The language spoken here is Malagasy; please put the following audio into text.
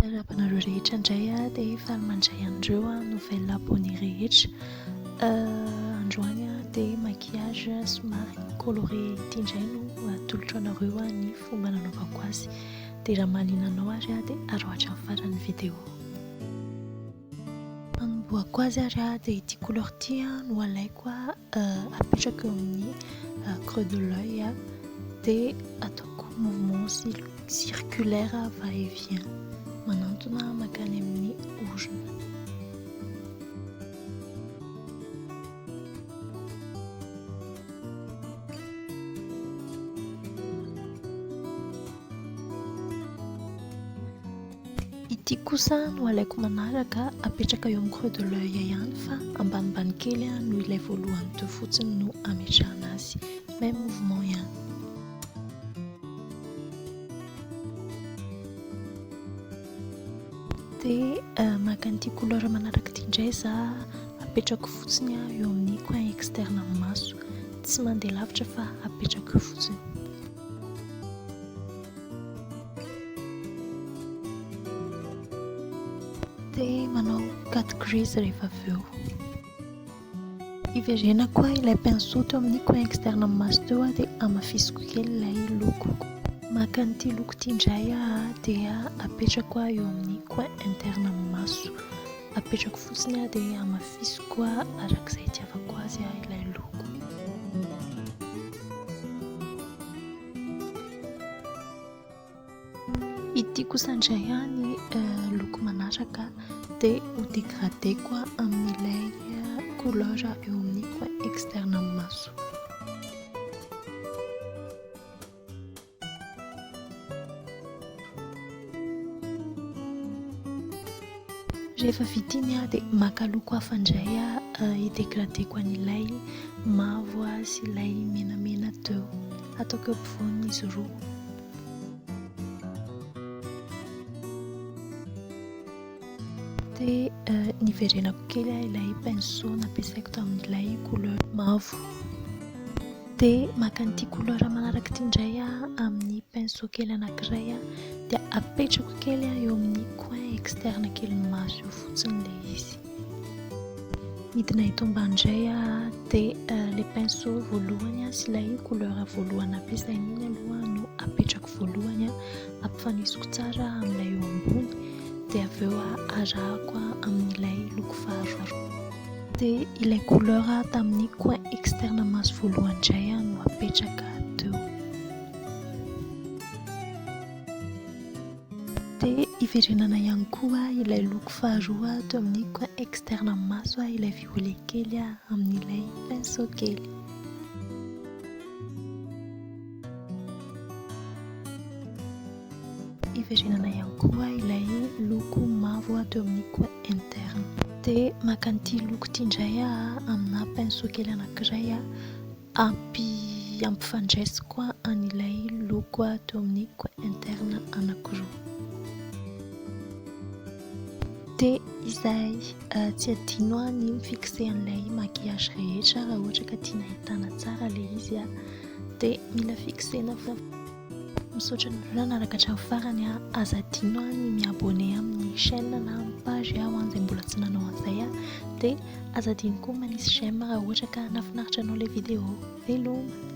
Miarahaba anareo rehetra indray a, dia faly mandray an'ireo a nouvelle abonné rehetra. Androany a dia maquillage somary coloré ity indray no atolotro anareo a ny fomba nanaovako azy. Dia raha mahaliana anao ary a dia aroatra amin'ny faran'ny vidéo. Hanombohako azy ary aho dia ity couleur ity no alaiko apetrako eo amin'ny creux de l'oeil dia ataoko mouvement circulaire va et vient manantona makany amin'ny orona. Ity kosa no alaiko manaraka apetraka eo amin'ny creux de l'oeil ihany fa ambanimbany kely noho ilay voalohany teo fotsiny no ametrahana azy. Même mouvement ihany. Dia euh, maka an'ity couleur manaraka ity indray za apetrako fotsiny eo amin'ny coin externe amin'ny maso. Tsy mandeha lavitra fa apetrako eo fotsiny. Dia manao cut crease rehefa avy eo. Hiverena koa ilay pinceau teo amin'ny coin externe amin'ny maso teo dia hamafisiko kely ilay loko. Maka an'ity loko ity indray aho dia apetrako aho eo amin'ny coin interne amin'ny maso. Apetrako fotsiny aho dia hamafisiko araka izay itiavako azy ilay loko. Ity kosa indray ihany loko manaraka dia ho dégradé-ko amin'ilay couleur eo amin'ny coin externe amin'ny maso. Rehefa vita iny aho dia maka loko hafa indray aho hi-dégradeko an'ilay mavo sy ilay menamena teo. Ataoko eo ampovoany izy roa. Dia eh, niverenako kely ah, ilay pinceau nampiasaiko tamin'ilay couleur mavo. Dia maka an'ity couleur manaraka ity indray ah, amin'ny pinceau kely anankiray ah, dia apetrako kely ah, eo amin'ny coin externe kelin'ny maso eo fotsiny ilay izy. Midina eto ambany indray dia eh, ilay pinceau voalohany sy ilay couleur voalohany nampiasaina iny aloha no apetrako voalohany ampifanisiko tsara amin'ilay eo ambony dia avy eo arahako amin'ilay loko faharoa dia ilay couleur tamin'ny coin externe maso voalohany indray no apetraka teo dia iverenana ihany koa ilay loko faharoa teo amin'ny coin externe maso ilay violet kely amin'ilay pinceau kely Hiverenana ihany koa ilay loko mavo ato amin'ny coin interne. Dia maka an'ity loko ity indray aho aminà pinceau kely anankiray hampi hampifandraisiko an'ilay loko ato amin'ny coin interne anankiroa. Dia izay, tsy adino ny mi-fixer an'ilay maquillage rehetra raha ohatra ka tiana ahitana tsara ilay izy. dia mila fixena fo misaotra ny vola naraka hatramin'ny farany a aza adino a ny miabone amin'ny chaîne na amin'ny page aho an izay mbola tsy nanao an'izay a dia aza adino koa manisy j'aime raha ohatra ka nafinaritra anao ilay vidéo veloma